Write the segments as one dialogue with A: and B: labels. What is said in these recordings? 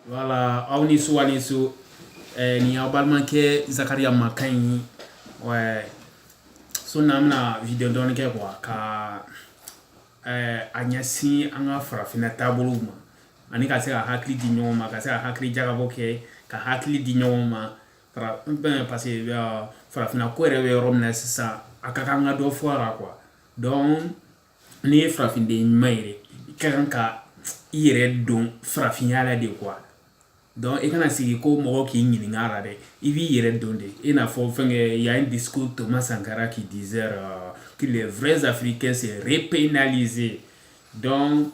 A: voilà aw ni su aw ni su eh, ni aw balimakɛ zakariya makan ye ouais. su in na an bɛna video dɔɔni kɛ quoi ka eh, a ɲɛsin an ka farafinna taabolow ma ani ka se ka hakili di ɲɔgɔn ma ka se ka hakili jagabɔ kɛ ka hakili di ɲɔgɔn ma parce que uh, farafinna ko yɛrɛ bɛ yɔrɔ min na sisan a ka kan ka dɔ fɔ a la quoi donc n'i ye farafinden ɲuman yɛrɛ i ka kan ka i yɛrɛ don farafinya la de quoi donc i kana sigi ko mɔgɔ k'i ɲininka a la dɛ i b'i yɛrɛ don de i n'a fɔ fɛnkɛ y a un discours thomas sankara qui disait que les vrais africains seraient pénalisés donc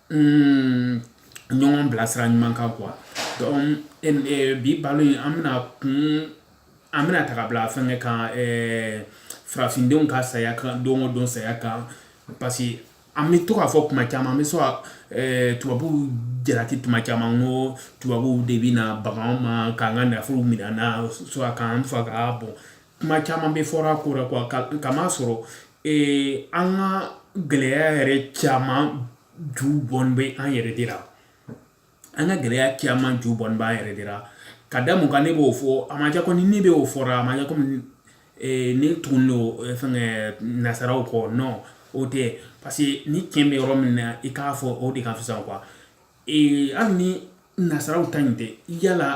A: ɲɔgɔn bila sira ɲuman kan quoi bi baro in an bɛna a ta ka bila fɛnkɛ kan farafindenw ka saya kan don o don saya kan parce que an bɛ to k'a fɔ kuma caman an bɛ se ka tubabuw jalaki tuma caman n ko tubabuw de bɛ na baga an ma k'an ka nafolo minɛ an na k'an faga bon kuma caman bɛ fɔ a ko la quoi k'a masɔrɔ ee an ka gɛlɛya yɛrɛ caman ju bɔlen bɛ an yɛrɛ de la an ka gɛlɛya caman ju bɔlen b'an yɛrɛ de la ka da mun kan ne b'o fɔ a m'a jira ko ni ne bɛ o fɔ la a m'a jira komi ee ne tugulen don fɛnkɛ nasaraw kɔ non o tɛ parce que ni tiɲɛ bɛ yɔrɔ min na i k'a fɔ o de ka fisa quoi ee hali ni nasaraw ta in tɛ a la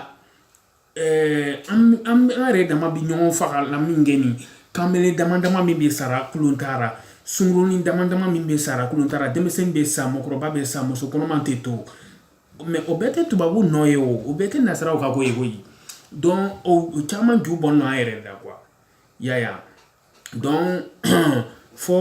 A: Eh, an an yɛrɛ dama bɛ ɲɔgɔn faga la min kɛ nin kanbele dama dama min bɛ sa la kulun ta la sungurunnin dama dama min bɛ sa la kulun ta la denmisɛnnin bɛ sa mɔgɔkɔrɔba bɛ sa muso kɔnɔma tɛ to mais o bɛɛ tɛ tubabu nɔ ye o o bɛɛ tɛ nasaraw ka ko ye koyi donc o caman ju bɔlen don an yɛrɛ la quoi yaya donc fo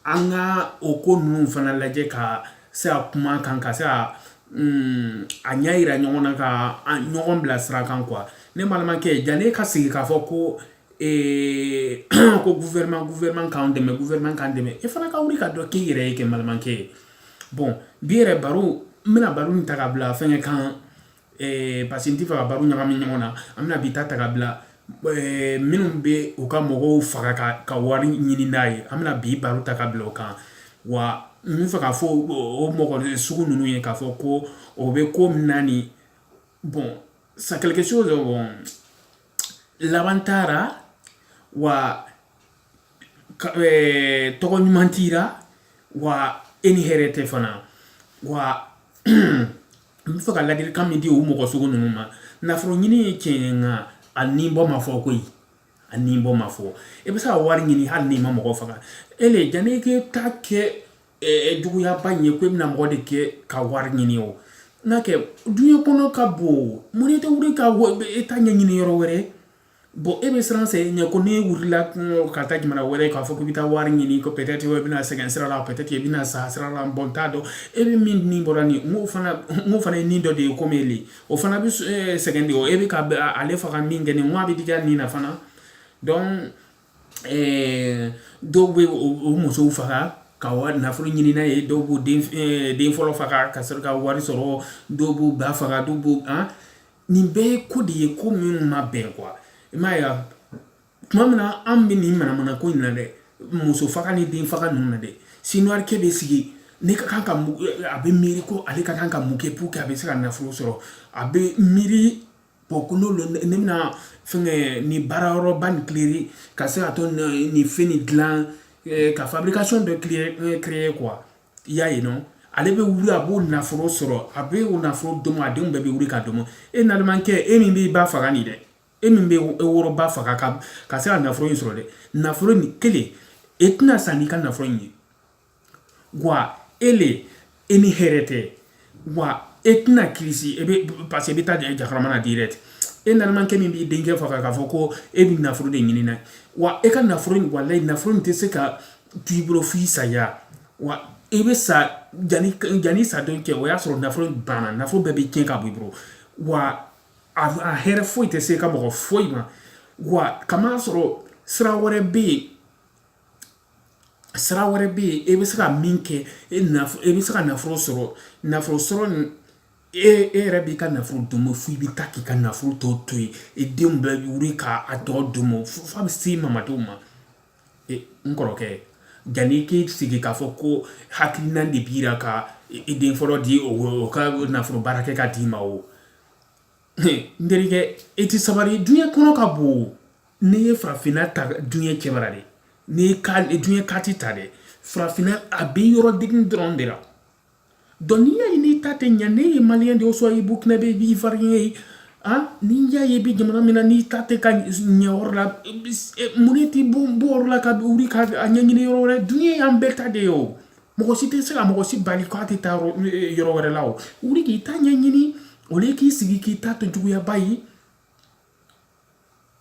A: an ka o ko ninnu fana lajɛ ka se a kuma kan ka se a ɲɛ jira ɲɔgɔn na ka ɲɔgɔn bila sira kan quoi ne balimakɛ jani e ka sigi k'a fɔ ko ko gouvernement gouvernement k'an dɛmɛ gouvernement k'an dɛmɛ e fana ka wuli ka dɔ k'i yɛrɛ ye kɛ n balimakɛ bon bi yɛrɛ baro n bɛna baro nin ta ka bila fɛnkɛ kan eh, parce que n t'a fɛ ka baro ɲagami ɲɔgɔn na an bɛna bi ta ta ka bila eh, minnu bɛ u ka mɔgɔw faga ka, ka wari ɲini n'a ye an bɛna bi baro ta ka bila o kan wa n b'a fɛ k'a fɔ o mɔgɔ sugu ninnu ye k'a fɔ ko o bɛ ko min na nin bon c'est quelque chose bon laban t'a la wa eh, tɔgɔ ɲuman t'i la wa e ni hɛrɛ tɛ fana wa n bɛ fɛ ka ladilikan min di o mɔgɔ sugu ninnu ma nafolo ɲini ye tiɲɛ ye nka a ni bo ma fɔ koyi a ni bo ma fɔ i e bɛ se ka wari ɲini hali n'i ma mɔgɔ faga e le janni i k'e ta kɛ eh, juguyaba in ye ko e bɛna mɔgɔ de kɛ ka wari ɲini o n'a kɛ duɲɛ kɔnɔ ka bon mun ne tɛ wuli ka e ta ɲɛɲini yɔrɔ wɛrɛ bon e bɛ siran sɛgɛn ɲɛ ko n'e wulila kungo ka taa jamana wɛrɛ k'a fɔ k'i bɛ taa wari ɲini ko peut-être i bɛna sɛgɛn sira la peut-être i bɛna sa sira la bon n t'a dɔn e bɛ min ni bɔra nin n'o fana n'o fana ye nin dɔ de ye komi ele o fana bɛ sɛgɛn de o e bɛ ka ale faga min kɛ nin a bɛ digi a nin na fana donc ɛɛ dɔw bɛ u musow faga ka wari nafolo ɲini n'a ye dɔw b'u den fɔlɔ faga ka sɔrɔ ka wari sɔrɔ dɔw b'u ba faga dɔw b'u an nin bɛɛ ye ko de ye ko minnu ma bɛn quoi i m'a ye tuma min na an bɛ nin manamana ko in na dɛ muso faga ni den faga ninnu na dɛ sinuwakɛ bɛ sigi ne ka kan ka a bɛ miiri ko ale ka kan ka mun kɛ pour que a bɛ se ka nafolo sɔrɔ a bɛ miiri bon ko n'o lo ne bɛna fɛnkɛ nin baara yɔrɔba nin créer ka se ka to nin fɛn nin dilan ka fabrication dɔ créer quoi i y'a ye non ale bɛ wuli a b'o nafolo sɔrɔ a bɛ o nafolo domu a denw bɛɛ bɛ wuli k'a domu e nalomakɛ e min b'i ba faga nin dɛ e min bɛ e woloba faga ka ka se ka nafolo in sɔrɔ dɛ nafolo nin kelen e tɛna sa n'i ka nafolo in ye wa e le e ni hɛrɛ tɛ wa e tɛna kilisi e bɛ parce que e bɛ taa jahanama na direct e nalomakɛ min b'i denkɛ faga k'a fɔ ko e bɛ nafolo de ɲini na wa e ka nafolo in walayi nafolo in tɛ se ka to i bolo f'i saya wa i bɛ sa jani jani sa don cɛ o y'a sɔrɔ nafolo in banna nafolo bɛɛ bɛ tiɲɛ ka bɔ i bolo wa a a hɛrɛ foyi tɛ s'e ka mɔgɔ foyi ma wa kamasɔrɔ sira wɛrɛ bɛ yen sira wɛrɛ bɛ yen e bɛ se ka min kɛ e e bɛ se ka nafolo sɔrɔ nafolo sɔrɔ ni e e yɛrɛ b'i ka nafolo domu fo i bɛ taa k'i ka nafolo tɔ to yen e denw bɛɛ bɛ wuli k'a tɔ domu f'a bɛ se mamadenw ma n kɔrɔkɛ janni k'i sigi k'a fɔ ko hakilina de b'i la ka i den fɔlɔ di o ka nafolo baara kɛ ka d'i ma o n terikɛ i tɛ sabali duɲɛ kɔnɔ ka bon n'i ye farafinna ta duɲɛ cɛbara de n'i ye duɲɛ kariti ta dɛ farafinna a bɛ yɔrɔ digi dɔrɔn de la donc n'i y'a ye n'i ta tɛ ɲɛ n'e ye maliyɛn de ye soit i burukinabɛ ou bien ivoirien ye n'i y'a ye i bɛ jamana min na n'i ta tɛ ka ɲɛ yɔrɔ la mun ne t'i bɔ yɔrɔ la ka wuli ka a ɲɛɲini yɔrɔ wɛrɛ duɲɛ y'an bɛɛ ta de ye o mɔgɔ si tɛ se ka mɔgɔ si bali k'a tɛ taa yɔrɔ wɛrɛ la o wuli k'i ta ɲɛɲini au lieu k'i sigi k'i ta to juguyaba ye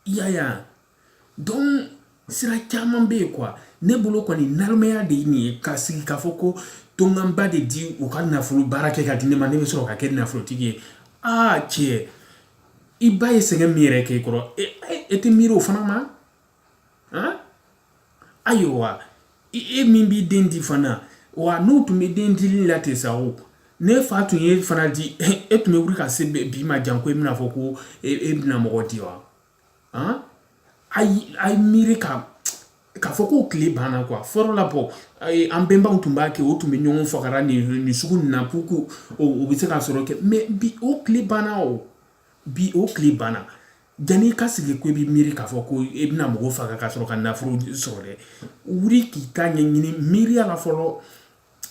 A: i y'a ye donc sira caman bɛ yen quoi ne bolo kɔni nalomaya de ye nin ye ka sigi k'a fɔ ko to n ka n ba de di u ka nafolo baara kɛ ka di ne ma ne bɛ sɔrɔ ka kɛ nafolotigi ye aa cɛ i ba ye sɛgɛn min yɛrɛ kɛ i kɔrɔ e tɛ miiri o fana ma ayiwa e min b'i den di fana wa n'u tun bɛ den dili la ten sa o n'e fa tun y'e fana di e tun bɛ wuli ka se bi ma janko e bɛna fɔ ko e bɛna mɔgɔ di wa a ye miiri ka k'a fɔ k'o tile banna quoi fɔlɔ la bon an bɛnbaw tun b'a kɛ o tun bɛ ɲɔgɔn faga la nin nin sugu nin na pour que o bɛ se ka sɔrɔ kɛ mais bi o tile banna o bi o tile banna Jani i ka sigi ko i bɛ miiri k'a fɔ ko i bɛna mɔgɔ faga ka sɔrɔ ka nafolo sɔrɔ dɛ wuli k'i ta ɲɛɲini miiriya la fɔlɔ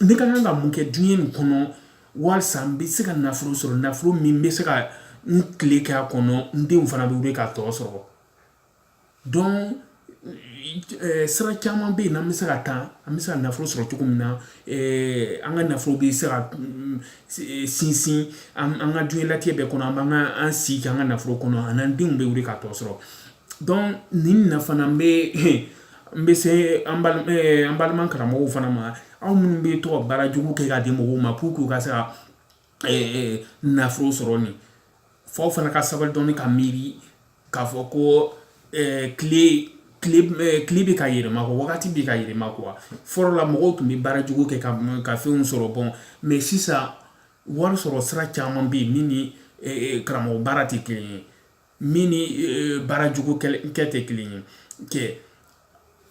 A: ne ka kan ka mun kɛ diɲɛ nin kɔnɔ walasa n bɛ se ka nafolo sɔrɔ nafolo min bɛ se ka n tile kɛ a kɔnɔ n denw fana bɛ wuli ka tɔ sɔrɔ donc Eh, sira caman bɛ yen n'an bɛ se ka taa an bɛ se ka nafolo sɔrɔ cogo min na eh, an ka nafolo bɛ se ka mm, eh, sinsin an ka diɲɛlatigɛ bɛɛ kɔnɔ an b'an ka an si kɛ an ka nafolo kɔnɔ ani an denw bɛ wuli ka tɔ sɔrɔ donc nin na fana n bɛ n bɛ se an balima karamɔgɔw fana ma aw minnu bɛ to ka baara jugu kɛ ka di mɔgɔw ma pour que u ka se ka nafolo sɔrɔ nin fo aw fana ka sabali dɔɔni ka miiri k'a fɔ ko tile bɛ ka yɛlɛma ko wagati bɛ ka yɛlɛma quoi fɔlɔ la mɔgɔw tun bɛ baara jugu kɛ ka ka fɛnw sɔrɔ bon mais sisan wari sɔrɔ sira caman bɛ yen min ni karamɔgɔ baara tɛ kelen ye min ni e, baarajugu kɛ tɛ kelen ye kɛ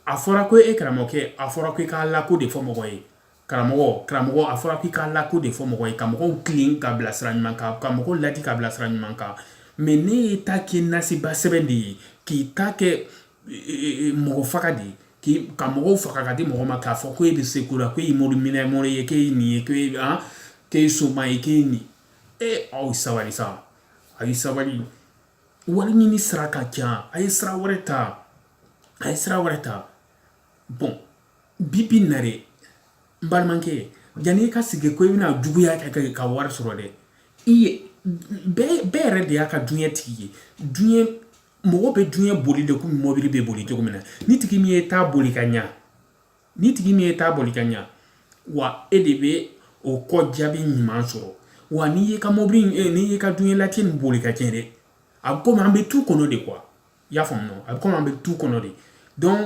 A: a fɔra ko e karamɔgɔkɛ a fɔra ko i k'Ala ko de fɔ mɔgɔ ye karamɔgɔ karamɔgɔ a fɔra ko i k'Ala ko de fɔ mɔgɔ ye ka mɔgɔw tilen ka bila sira ɲuman kan ka mɔgɔw laadi ka bila sira ɲuman kan mais n'e y'e ta kɛ nasiba sɛbɛn de ye k'i ta kɛ e, e, mɔgɔ faga de ye k'i ka mɔgɔw faga ka di mɔgɔ ma k'a fɔ ko e bɛ se ko la ko e ye mori minɛ mori ye k'e ye nin ye k'e ye an k'e ye soma ye k'e ye nin ye aw sabali sa a ye sabali wari ɲini sira ka ca a ye sira wɛrɛ ta a ye sira wɛrɛ ta bon bibi na dɛ n balimakɛ yanni i ka sigi ko i bɛna juguya kɛ ka wari sɔrɔ dɛ i ye bɛɛ yɛrɛ de y'a ka duɲɛ tigi ye duɲɛ mɔgɔ bɛ duɲɛ boli de komi mɔbili bɛ boli cogo min na n'i tigi min y'i ta boli ka ɲa ni tigi n'i y'i ta boli ka ɲa wa e de bɛ o kɔ jaabi ɲuman sɔrɔ wa n'i y'i ka mɔbili eh, n'i y'i ka dunyalatigɛ nin boli ka tiɲɛ dɛ a bɛ komi an bɛ tu kɔnɔ de quoi i y'a faamu a bɛ komi an bɛ tu kɔnɔ de donc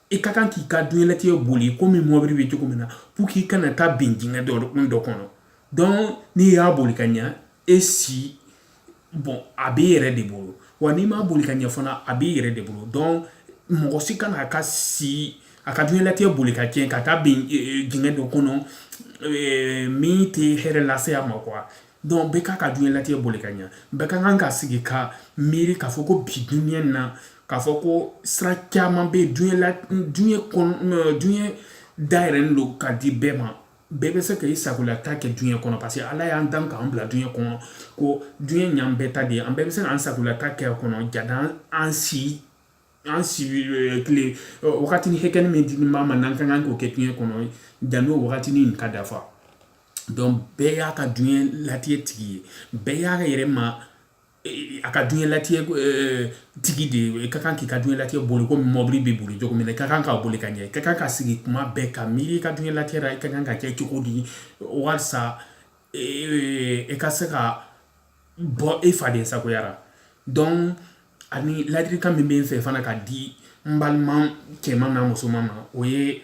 A: i ka kan k'i ka dunyalatigɛ boli komi mɔbili bɛ cogo min na pour k'i kana taa bin dingɛ dɔ dɔ kɔnɔ donc n'i y'a boli ka ɲa e si bon a b'i yɛrɛ de bolo wa n'i m'a boli ka ɲɛ fana a b'i yɛrɛ de bolo donc mɔgɔ si kana a ka si a ka diɲɛlatigɛ boli ka tiɲɛ ka taa bin dingɛ dɔ kɔnɔ min tɛ hɛrɛ lase a ma quoi donc bɛɛ k'a ka diɲɛlatigɛ boli ka ɲɛ bɛɛ ka kan ka sigi ka miiri k'a fɔ ko bi dunya na k'a fɔ ko sira caman bɛ diɲɛ la diɲɛ kɔnɔ diɲɛ dayɛlɛlen don ka di bɛɛ ma bɛɛ bɛ se ka i sagolata kɛ duɲɛ kɔnɔ parce que ala y'an dan k'an bila duɲɛ kɔnɔ ko duɲɛ y'an bɛɛ ta de ye an bɛɛ bɛ se k'an sagolata kɛ a kɔnɔ jani an si an si eh, tile eh, wagatinin hakɛnin min dilen b'an ma n'an ka kan k'o kɛ duɲɛ kɔnɔ jan'o wagatini nin ka dafa donc bɛɛ y'a ka duɲɛ latigɛ tigi ye bɛɛ y'a yɛrɛ ma a ka diɲɛlatigɛ tigi de ye i ka kan k'i ka diɲɛlatigɛ boli komi mɔbili bɛ boli cogo min na i ka kan k'a boli ka ɲɛ i ka kan ka sigi kuma bɛɛ ka miiri i ka diɲɛlatigɛ la i ka kan ka kɛ cogo di walasa i ka se ka bɔ i faden sagoya ra donc ani ladilikan min bɛ n fɛ fana ka di n balima cɛman n'a musoman ma o ye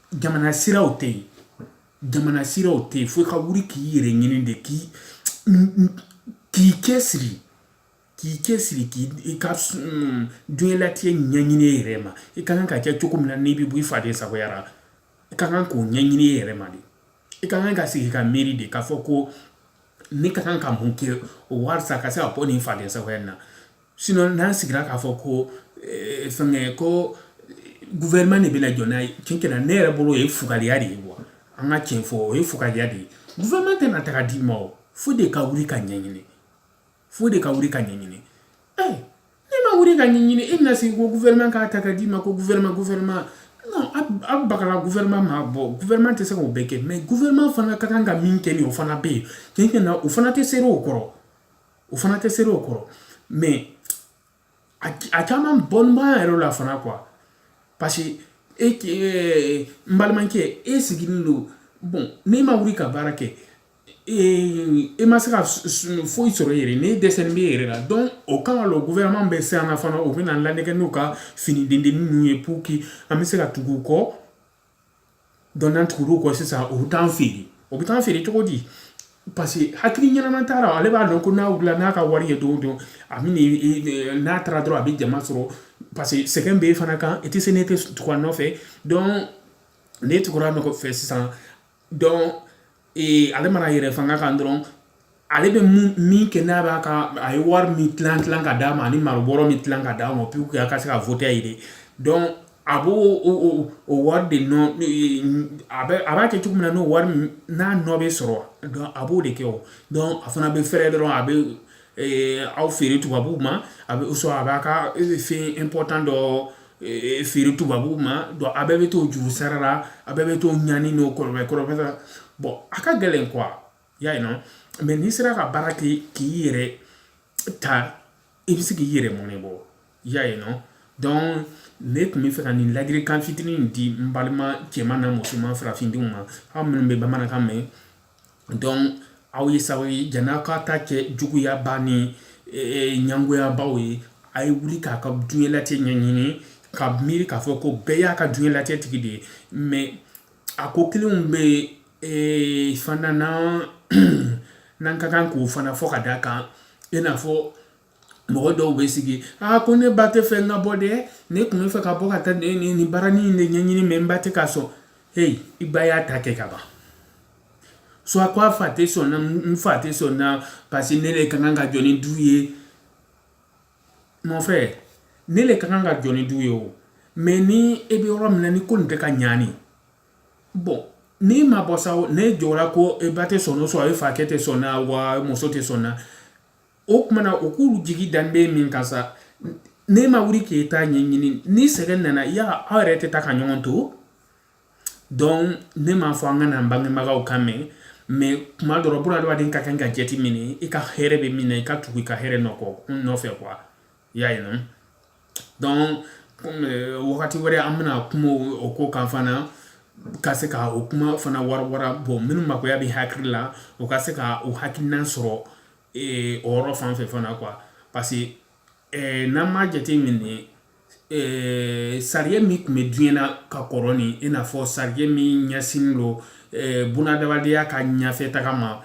A: jamana siraw tɛ yen jamana siraw tɛ yen fo ka wuli k'i yɛrɛ ɲini de k'i k'i cɛsiri k'i cɛsiri k'i i ka diɲɛlatigɛ ɲɛɲini i yɛrɛ ma i ka kan ka kɛ cogo min na n'i bɛ bɔ i faden sagoya ra i ka kan k'o ɲɛɲini i yɛrɛ ma de i ka kan ka sigi ka miiri de k'a fɔ ko ne ka kan ka mun kɛ o walisa ka se ka bɔ nin faden sagoya in na Sinon n'an sigira k'a fɔ ko ɛɛ fɛnkɛ, ko gouvernement de bɛna jɔ n'an ye, tiɲɛ yɛrɛ la, ne yɛrɛ bolo o ye fugariya de ye quoi an ka tiɲɛ fɔ, o ye fugariya de ye, gouvernement tɛna ta ka d'i ma o, fo e de ka wuli k'a ɲɛɲini, fo e de ka wuli k'a ɲɛɲini, ɛ n'i ma wuli k'a ɲɛɲini, e bɛna sigi ko gouvernement k'a ta ka d'i ma ko gouvernement, gouvernement non aw bakala gouvernement ma, bon gouvernement tɛ se k'o bɛɛ kɛ mais gouvernement fana ka kan ka min kɛ nin ye, o fana bɛ yen, tiɲɛ tiɲɛ na o fana tɛ sera o kɔrɔ. o fana tɛ sera o kɔrɔ mais a caman bɔlen b'an yɛrɛ la fana quoi parce que e n balimakɛ e sigilen don bon n'i ma wuli ka baara kɛ e ma se ka foyi sɔrɔ i yɛrɛ n'e dɛsɛlen b'i yɛrɛ la donc o kama lo gouvernement bɛ se an na fana u bɛn'an lanɛgɛ n'u ka fɛnnin dennin ninnu ye pour que an bɛ se ka tugu u kɔ donc n'an tugur'u kɔ sisan u bɛ taa an feere o bɛ taa an feere cogo di parce que hakili ɲɛnama t'a la ale b'a dɔn ko n'a wulila n'a ka wari ye don o don a bɛ n'a taara dɔrɔn a bɛ jama sɔrɔ parce que sɛgɛn bɛ e fana kan i tɛ se n'e tɛ tugu a nɔfɛ donc n'e tugura a nɔfɛ sisan ee ale mana yɛrɛ fanga kan dɔrɔn ale bɛ min kɛ n'a b'a ka a ye wari min tilan tilan ka d'a ma ani malobɔrɔ min tilan ka d'a ma pour que a ka se ka voter a ye de donc a b'o o o o wari de nɔ a bɛ a b'a kɛ cogo min na n'o wari n'a nɔ bɛ sɔrɔ donc a b'o de kɛ o donc a fana bɛ fɛrɛ dɔrɔn a bɛ aw feere tubabuw ma a bɛ sɔn a b'a ka fɛn important dɔ feere tubabuw ma donc a bɛɛ bɛ t'o juru sara la a bɛɛ bɛ t'o ɲani n'o kɔrɔ kɔrɔ bon a ka gɛlɛn quoi y'a ye non mais n'i sera ka baara kɛ k'i yɛrɛ ta i bɛ se k'i yɛrɛ mɔnɛ bɔ y'a ye non donc ne tun bɛ fɛ ka nin ladilikan fitinin di n balima cɛman n'a musoman farafindenw ma aw minnu bɛ bamanankan mɛn donc aw ye sabali jan'a ka ta kɛ juguyaba ni ɲangoyabaw ye a ye wuli k'a ka diɲɛlatigɛ ɲɛɲini ka miiri k'a fɔ ko bɛɛ y'a ka diɲɛlatigɛ tigi de ye mais a ko kelenw bɛ yen fana n'an ka kan k'o fana fɔ ka da a kan i n'a fɔ mɔgɔ dɔw bɛ sigi aa ko ne ba tɛ fɛ n ka bɔ dɛ ne tun bɛ fɛ ka bɔ ka taa nin nin nin baaranin in de ɲɛɲini mais n ba tɛ ka sɔn heyi i ba y'a ta kɛ ka ban soit ko a fa tɛ sɔn na n fa tɛ sɔn na parce que ne de ka kan ka jɔ ni du ye mon frère ne de ka kan ka jɔ ni du ye o mais ni e bɛ yɔrɔ min na ni ko nin tɛ ka ɲaani bon n'i ma bɔ sa n'e jɔra ko e ba tɛ sɔn o sɔrɔ e fakɛ tɛ sɔn na wa muso tɛ sɔn na o kuma na o k'olu jigi dalen bɛ min kan sa n'e ma wuli k'e ta ɲɛɲini ni sɛgɛn nana yala aw yɛrɛ tɛ taa ka ɲɔgɔn to donc ne m'a fɔ an kan'an bangebagaw kan mɛn mais kuma dɔ la bunadamaden ka kan ka jate minɛ i ka hɛrɛ bɛ min na i ka tugu i ka hɛrɛ nɔ kɔ nɔfɛ quoi i y'a ye non donc wagati wɛrɛ an bɛna kuma o ko kan fana ka se ka o kuma fana warawara bon minnu makoya bɛ hakili la o ka se ka o hakilina sɔrɔ ee o yɔrɔ fan fɛ fana quoi parce que eh, n'an m'a jate minɛ eh, sariya min tun bɛ diɲɛ na ka kɔrɔ ni i n'a fɔ sariya min ɲɛsinnen don eh, bunadamadenya ka ɲɛfɛtaga ma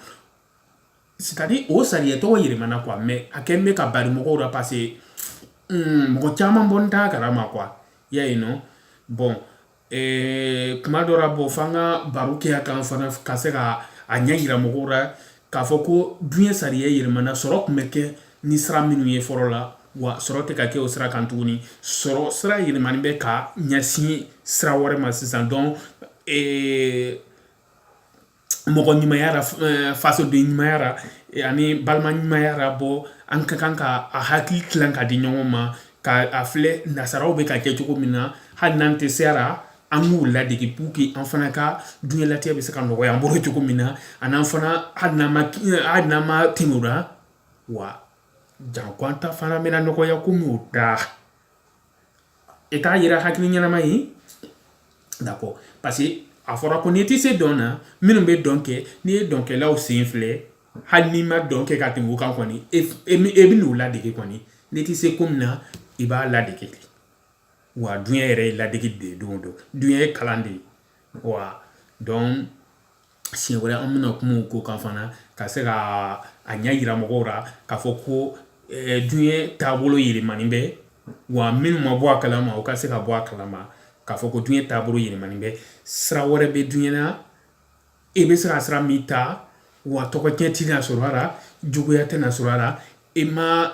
A: c'est-à-dire o sariya tɔgɔ yɛlɛmana quoi mais a kɛlen bɛ ka bari mɔgɔw la parce que mm, mɔgɔ caman bɔlen t'a kalama quoi y'a ye non bon Ɛɛ kuma dɔ la bon fo an ka baro kɛ a kan fana ka se ka a ɲɛ yira mɔgɔw la k'a fɔ ko dunya sariya yɛlɛmana sɔrɔ tun bɛ kɛ ni sira minnu ye fɔlɔ la wa sɔrɔ tɛ ka kɛ o sira kan tuguni sɔrɔ sira yɛlɛmani bɛ ka ɲɛsin sira wɛrɛ ma sisan donc mɔgɔ ɲumaya la eh, fasoden ɲumaya la eh, ani balima ɲumaya la bon an ka kan ka a hakili tilan ka di ɲɔgɔn ma ka a filɛ nasaraw bɛ ka kɛ cogo min na hali n'an tɛ se a la an k'u ladege pour que an fana ka dunyalatigɛ bɛ se ka nɔgɔya an bolo cogo min na an'an fana hali n'an ma eh, hali n'an ma tɛmɛ o la wa janko an ta fana bɛna nɔgɔya komi o ta I t'a yira hakili ɲɛnama ye d'accord parce que a fɔra ko n'i tɛ se dɔn na minnu bɛ dɔn kɛ n'i ye dɔnkɛlaw sen filɛ hali n'i ma dɔn kɛ ka tɛmɛ o kan kɔni e bɛn'o ladege kɔni n'i tɛ se ko min na i b'a ladege wa dunya yɛrɛ ye ladege de ye don o don dunya ye kalan de ye wa donc siɲɛ wɛrɛ an bɛna kuma o ko kan fana ka se ka a ɲɛ yira mɔgɔw la k'a fɔ ko diɲɛ taabolo yɛlɛmani bɛ wa minnu ma bɔ a kalama u ka se ka bɔ a kalama k'a fɔ ko diɲɛ taabolo yɛlɛmani bɛ sira wɛrɛ bɛ diɲɛ na e bɛ se ka sira min ta wa tɔgɔcɛn tɛna sɔrɔ a la juguya tɛna sɔrɔ a la e ma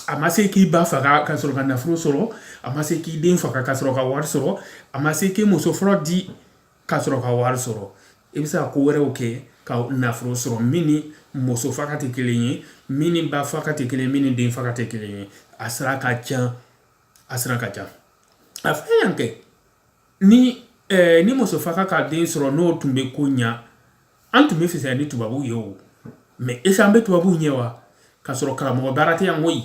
A: a ma se k'i ba faga ka sɔrɔ ka nafolo sɔrɔ a ma se k'i den faga ka sɔrɔ ka wari sɔrɔ a ma se k'i muso fɔlɔ di ka sɔrɔ ka wari sɔrɔ i bɛ se ka ko wɛrɛw kɛ ka nafolo sɔrɔ min ni muso faga tɛ kelen ye min ni ba faga tɛ kelen ye min ni den faga tɛ kelen ye a sira ka ca a sira ka ca an fɛ yan kɛ ni ɛɛ ni muso faga ka den sɔrɔ n'o tun bɛ ko ɲa an tun bɛ fisaya ni tubabuw ye o mais est-ce que an bɛ tubabuw ɲɛ wa k'a sɔrɔ karamɔgɔ baara tɛ yan koyi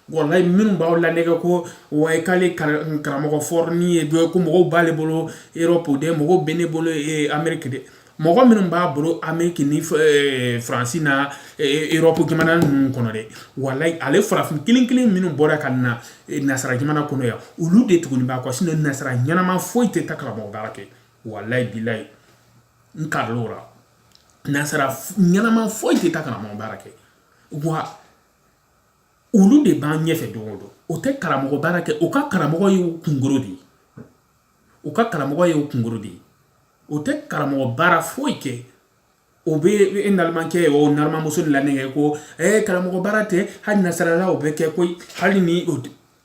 A: walayi minnu b'aw lanɛgɛ ko wayi k'ale karamɔgɔ fɔrɔni ye dɔ ye ko mɔgɔw b'ale bolo erɔpu de mɔgɔw bɛ ne bolo ameriki de mɔgɔ minnu b'a bolo ameriki ni faransi na erɔpu jamana ninnu kɔnɔ dɛ walayi ale farafin kelen kelen minnu bɔra ka na nasara jamana kɔnɔ yan olu de tuguni b'a kɔ sinon nasara ɲɛnama foyi tɛ taa karamɔgɔ baara kɛ walayi bilayi n kalila o la nasara ɲɛnama foyi tɛ taa karamɔgɔ baara kɛ wa olu de b'an ɲɛfɛ don o don o tɛ karamɔgɔ baara kɛ u ka karamɔgɔ ye kunkolo de ye u ka karamɔgɔ ye kunkolo de ye o tɛ karamɔgɔ baara foyi kɛ o bɛ e nalomakɛ o nalomamuso lanɛgɛ ko e karamɔgɔ baara tɛ hali nasarala o bɛ kɛ koyi hali ni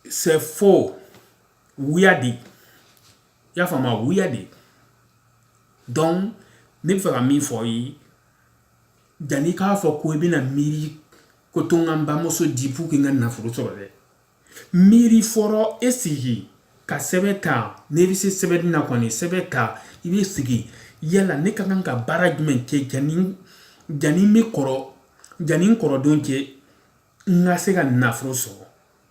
A: c'est faux wuya de y'a faamuya wuya de donc ne bɛ fɛ ka min fɔ ye Janni k'a fɔ ko i bɛna miiri ko to n ka n bamuso di pour que n ka nafolo sɔrɔ dɛ miiri fɔlɔ e sigi ka sɛbɛn ta n'i bɛ se sɛbɛnni na kɔni sɛbɛn ta i bɛ sigi yala ne ka kan ka baara jumɛn kɛ janni janni n bɛ kɔrɔ janni n kɔrɔdon cɛ n ka se ka nafolo sɔrɔ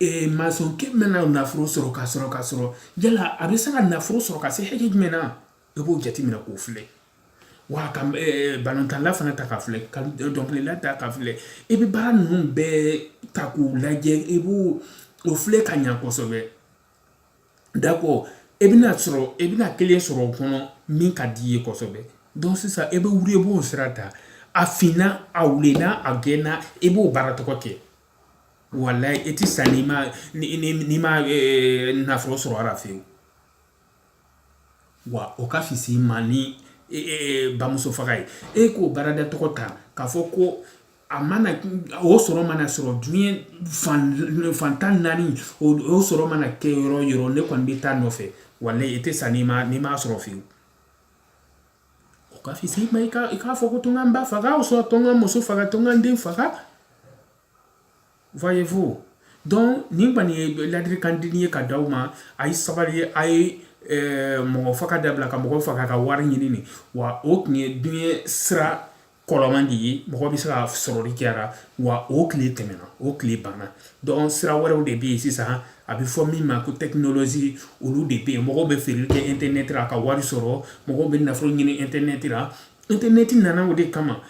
A: Ee maçonkɛ mana nafolo sɔrɔ ka sɔrɔ ka sɔrɔ yala a bɛ se ka nafolo sɔrɔ ka se hakɛ jumɛn na e b'o jateminɛ k'o filɛ wa ka balontanla fana ta ka filɛ ka dɔnkilila ta ka filɛ i bɛ baara ninnu bɛɛ ta k'u lajɛ i b' o filɛ ka ɲɛ kosɛbɛ d'accord e bɛna sɔrɔ e bɛna kelen sɔrɔ o kɔnɔ min ka di i ye kosɛbɛ donc sisan e bɛ wuli e b'o sira ta a finna a wulenna a gɛnna e b'o baara tɔgɔ kɛ Wallahi i tɛ sa n'i ma n'i ma nafolo sɔrɔ a la fiyewu wa o ka fisi ma ni bamuso faga ye e k'o baarada tɔgɔ ta k'a fɔ ko a mana o sɔrɔ mana sɔrɔ diɲɛ fan tan naani o sɔrɔ mana kɛ yɔrɔ yɔrɔ ne kɔni bɛ taa nɔfɛ wallahi i tɛ sa n'i ma n'i m'a sɔrɔ fiyewu O ka fisi i ma i ka, i k'a fɔ ko to n ka n ba faga o sɔrɔ to n ka muso faga to n ka n den faga. Voyez-vous? Donc, nin kɔni ye ladilikandenni ye ka d'aw ma a ye sabali ye a ye mɔgɔ faga dabila ka mɔgɔ faga ka wari ɲini nin wa o tun ye diɲɛ sira kɔrɔman de ye mɔgɔ bɛ se ka sɔrɔli kɛ a la wa o tile tɛmɛna o tile banna donc sira wɛrɛw de bɛ yen sisan a bɛ fɔ min ma ko technologie olu de bɛ yen mɔgɔw bɛ feere kɛ internet la ka wari sɔrɔ mɔgɔw bɛ nafolo ɲini internet la internet nana o de kama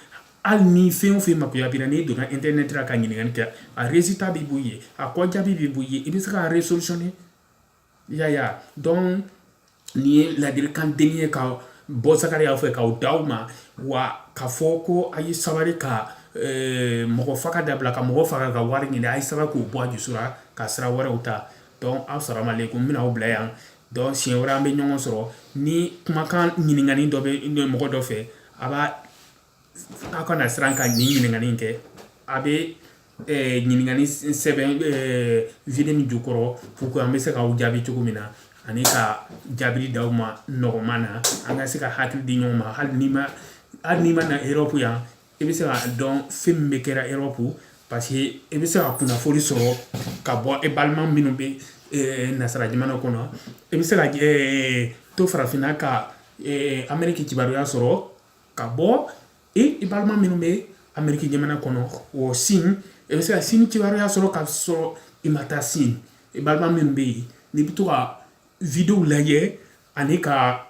A: hali ni fɛn o fɛn makoya b'i la n'i donna internet la ka ɲininkali kɛ a résultat bɛ b'i ye a kɔjaabi bɛ b'i ye i bɛ se k'a résolutionner yaya donc nin ye ladirikandenni ye ka bɔ Zakariya fɛ k'o d'aw ma wa k'a fɔ ko a ye sabari ka mɔgɔ faga dabila ka mɔgɔ faga ka wari ɲini a ye sabari k'o bɔ a dusu ra ka sira wɛrɛw ta donc assalamu alaikum n bɛna aw bila yan donc siɲɛ wɛrɛ an bɛ ɲɔgɔn sɔrɔ ni kumakan ɲininkali dɔ bɛ mɔgɔ dɔ fɛ a b'a aw kana siran ka nin ɲininkali in kɛ a bɛ ɲininkali sɛbɛn vidéo nin jukɔrɔ pour que an bɛ se k'aw jaabi cogo min na ani ka jaabili d'aw ma nɔgɔman na an ka se ka hakili di ɲɔgɔn ma hali n'i ma hali n'i ma na erɔpu yan i bɛ se k'a dɔn fɛn min bɛ kɛra erɔpu parce que i bɛ se ka kunnafoni sɔrɔ ka bɔ e balima minnu bɛ nasara jamana kɔnɔ i bɛ se ka to farafinna ka ameriki kibaruya sɔrɔ ka bɔ i balima minnu bɛ ameriki jamana kɔnɔ o sini e bɛ se ka sini kibaruya sɔrɔ ka sɔrɔ i ma taa sini i balima minnu bɛ yen n'i bɛ to ka video lajɛ ani ka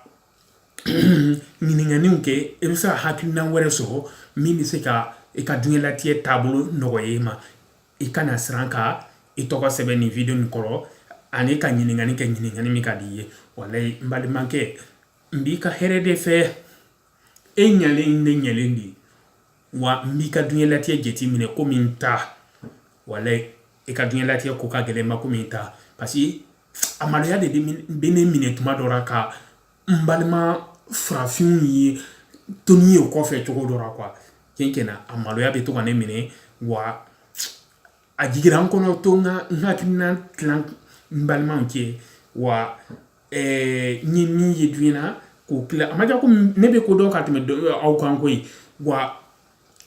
A: ɲininkaliw kɛ e bɛ se ka hakilina wɛrɛ sɔrɔ min bɛ se ka i ka diɲɛlatigɛ taabolo nɔgɔya i ma i kana siran ka i tɔgɔ sɛbɛn nin video nin kɔrɔ ani ka ɲininkali kɛ ɲininkali min ka di i ye walayi n balimakɛ n b'i ka hɛrɛ de fɛ e ɲalen ne ɲalen de wa n b'i ka duɲɛlatigɛ jateminɛ komi n ta walayi i ka duɲɛlatigɛ ko ka gɛlɛn n ma komi n ta parce que a maloya de bɛ ne minɛ tuma dɔ la ka n balima farafinw ye toni ye o kɔfɛ cogo dɔ la quoi tiɲɛ na a maloya bɛ to ka ne minɛ wa a jigira n kɔnɔ to n ka n hakilina tilan n balimaw cɛ wa ɛɛ n ye min ye duɲɛ na k'o tila a ma kɛ ko ne bɛ ko dɔn ka tɛmɛ aw kan koyi wa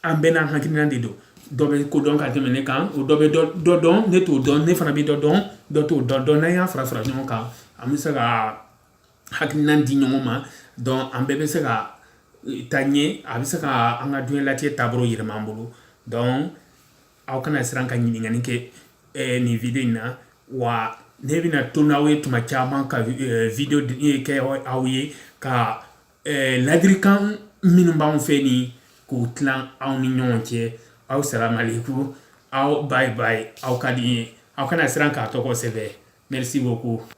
A: an bɛɛ n'an hakilina de don dɔ bɛ ko dɔn ka tɛmɛ ne kan o dɔ bɛ dɔ dɔn ne t'o dɔn ne fana bɛ dɔ dɔn dɔ t'o dɔn donc n'an y'a fara fara ɲɔgɔn kan an bɛ se ka hakilina di ɲɔgɔn ma donc an bɛɛ bɛ se ka taa ɲɛ a bɛ se ka an ka duɲɛlatigɛ taabolo yɛlɛma an bolo donc aw kana siran ka ɲininkali kɛ eh, nin video in na wa ne bɛna to n'aw ye tuma caman ka eh, video eh, kɛ aw ye ka eh, ladirikan minnu b'anw fɛ nin k'u tilan aw ni ɲɔgɔn cɛ aw salamalekum aw bye bye aw ka di n ye aw kana siran k'a tɔgɔ sɛbɛn merci beaucoup